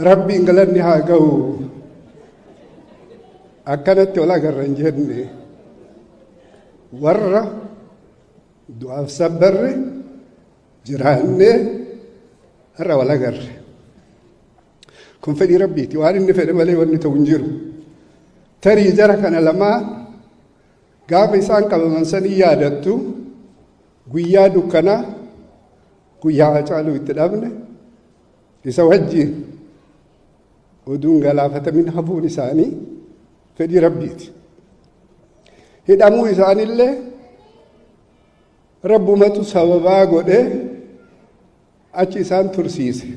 Rabbiin galanni haa ga'u akkanatti ol agarra hin jenne warra du'aaf sabbarri jiraannee har'a wal agarre. Kun fedhii rabbiiti. Waan inni fedhe malee wanni ta'u hin jiru. Tarii jara kana lamaa gaafa isaan qabaman sanii yaadattu guyyaa dukkanaa guyyaa hacaaluu itti dhabne isa wajjiin oduun galaafatamin hafuun isaanii fedhii rabbiiti. Hidhamuu isaanillee Rabbumatu sababaa godhee achi isaan tursiise.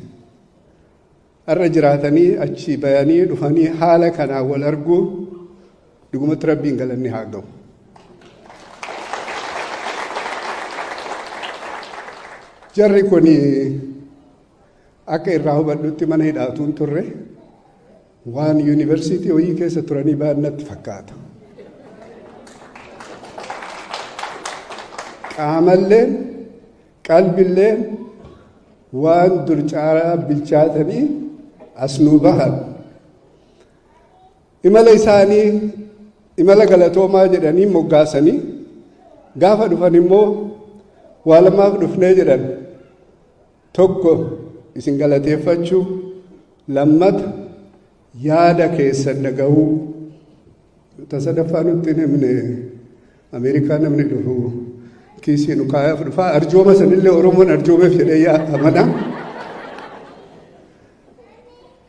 Har'a jiraatanii achi bayanii dhufanii haala kanaan wal arguu dhugumatti rabbiin galanni haa ga'u. Jarri kun Akka irraa hubadhutti mana hidhaa utuu hin turre waan yuunivarsiitii wayii keessa turanii ba'an natti fakkaata. Qaamalleen qalbilleen waan dur caalaa bilchaatanii as nuu bahan. Imala isaanii imala galatoomaa jedhanii moggaasanii gaafa dhufan immoo waa lamaaf dhufnee jedhan. Tokko isin galateeffachuu, lammata yaada keessan dhaga'uu. Ta sadaffaa nutti hin himne Ameerikaa namni dhufu kiisii nu kaayaaf dhufaa arjooma sanillee Oromoon arjoomeef jedhee yaa amana.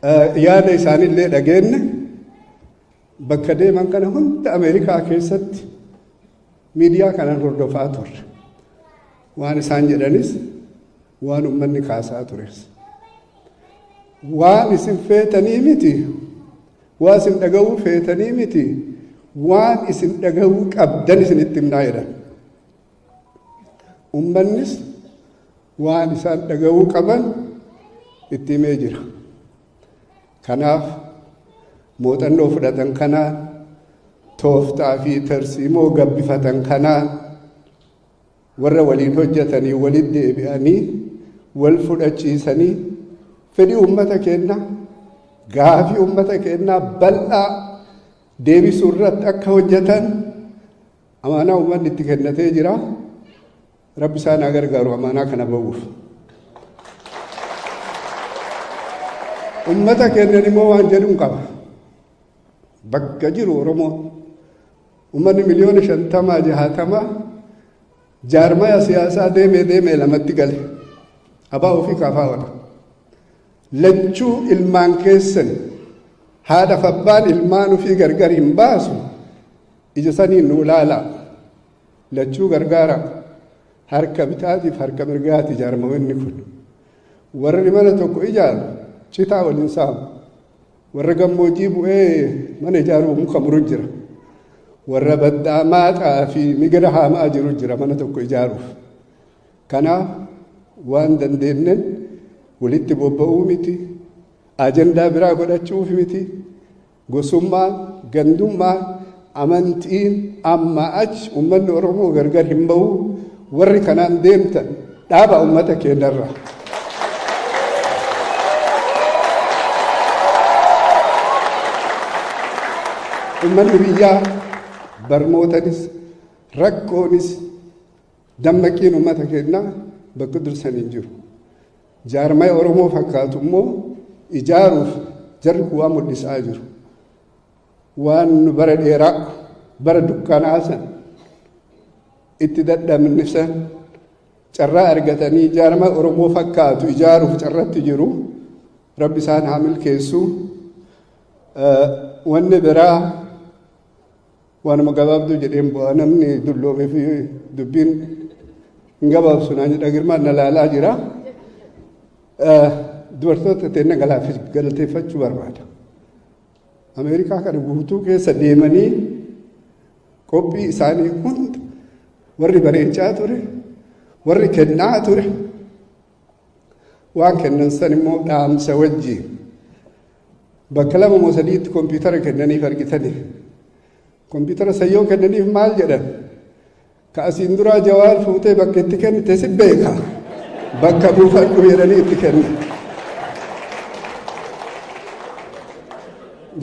Eh, Yaada isaanillee dhageenne. Bakka deeman kana hunda Ameerikaa keessatti miidiyaa kanaan hordofaa turre. Waan isaan jedhanis waan ummanni kaasaa tures. Waan isin feetanii miti, waan isin dhaga'uu feetanii miti, waan isin dhaga'uu qabdan isinitti himnaa jedhan. Ummannis waan isaan dhaga'uu qaban itti himee jira. Kanaaf muuxannoo fudhatan kanaan tooftaa fi tarsiimoo gabbifatan kanaan warra waliin hojjetanii walitti deebi'anii wal fudhachiisanii fedhii uummata keenyaa gaafii uummata keenyaa bal'aa deebisuu irratti akka hojjetan amaanaa uummanni itti kennatee jira. Rabbi isaan haa gargaaru amaanaa kana ba'uuf. Ummata keenyan immoo waan jedhuun qaba. Bakka jiru Oromoo ummanni miliyoona shantamaa jahaatamaa jaarmaya siyaasaa deemee deemee lamatti gale. Abaa ofii kaafaa ola. Lachuu ilmaan keessan haadhaaf abbaan ilmaan ofii gargar hin baasu ija saniin nu ilaalaa. Lachuu gargaara. Harka bitaatiif harka mirgaati ijaarmaoinni kun. Warri mana tokko ijaaru citaa wal hin saamu. Warra gammoojjii bu'ee mana ijaaruuf muka muru jira. Warra baddaa maaxaa fi migira haamaa jiru jira mana tokko ijaaruuf. Kanaaf waan dandeenyen walitti bobba'uu miti, ajandaa biraa godhachuuf miti, Gosummaan, gandummaan, amantiin ammaa achi ummanni Oromoo gargar hin bahu. Warri kanaan deemtan dhaaba ummata keenyarra. Ummanni biyyaa barmootanis rakkoonis Dammaqqiin uummata keennaa bakka dursan hin jiru. Jaarmaya Oromoo fakkaatu immoo ijaaruuf jarri kun waan mul'isaa jiru. Waan nu bara dheeraa bara dukkanaa san itti dadhabne san carraa argatanii jaarmaya Oromoo fakkaatu ijaaruuf carratti jiru. Rabbi isaan haa milkeessu. Wanni biraa Waanuma gabaabduu jedheen bu'aa namni dulloomeef dubbiin hin gabaabsu naan jedha girmaan na laalaa jira. Dubartoota teenna galateeffachuu barbaada. Ameerikaa kana guutuu keessa deemanii qophii isaanii hunda warri bareechaa ture, warri kennaa ture, waan kennan san immoo dhaamsa wajji bakka lama moo sadiitti kompiitara kennaniif argitani kompiitara san yoo kennaniif maal jedhan ka asiin duraa jawaar fuutee bakka itti kennite si beeka bakka buufadhu jedhanii itti kenna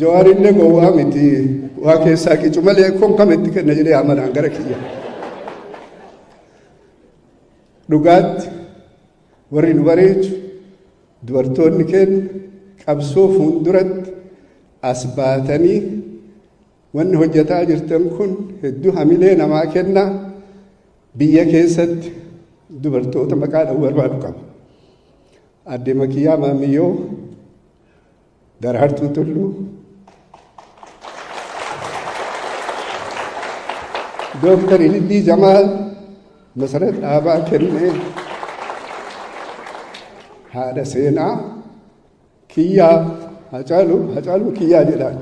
jawaarillee gowwaa miti waa keessaa qicu malee kon kam itti kenna jedhee amanaan gara kiyya Dhugaatti warri nu bareechu dubartoonni keenya qabsoo fuulduratti as baatanii wanni hojjetaa jirtan kun hedduu hamilee namaa kenna. Biyya keessatti dubartoota maqaa dha'uu barbaadu qaba. Aadde Makiyyaa Maammiyyoo Daraartuu Tulluu, Dooktar Ilillii Jamaal, Masarat Dhaabaa Kennee, haadha seenaa kiyyaa Hacaaluu Hacaaluu kiyyaa jedhaan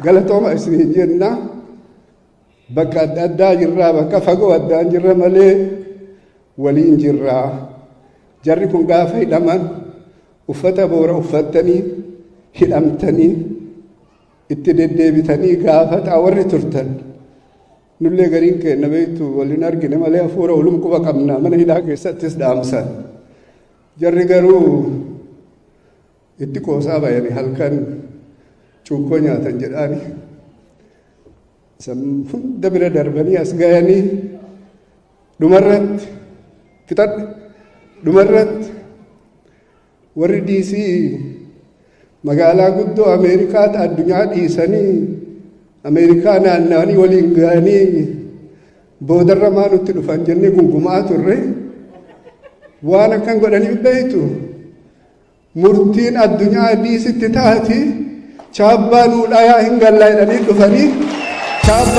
galatooma isiniin jennaa. Bakka adda addaa jirraa bakka fagoo addaan jirra malee waliin jirraa. Jarri kun gaafa hidhaman uffata boora uffattanii hidhamtanii itti deddeebitanii gaafataa warri turtan. Nullee gariin keenna beektu waliin argine malee hafuura walum quba qabna mana hidhaa keessattis dhaamsan. Jarri garuu Itti qoosaa bayani halkan cuukkoo nyaatan jedhaani san hunda bira darbanii as gayanii dhumarratti fixadhe dhumarratti warri diisii magaalaa guddoo ameerikaatti addunyaa dhiisanii ameerikaa naanna'anii waliin ga'anii boodarra maa nutti dhufan jennee gungumaa turre waan akkan godhaniif beektu Murtiin addunyaa Addiisitti taati chaabbaa nuu dhayaa hin gallaa jedhanii dhufanii chaabbaa.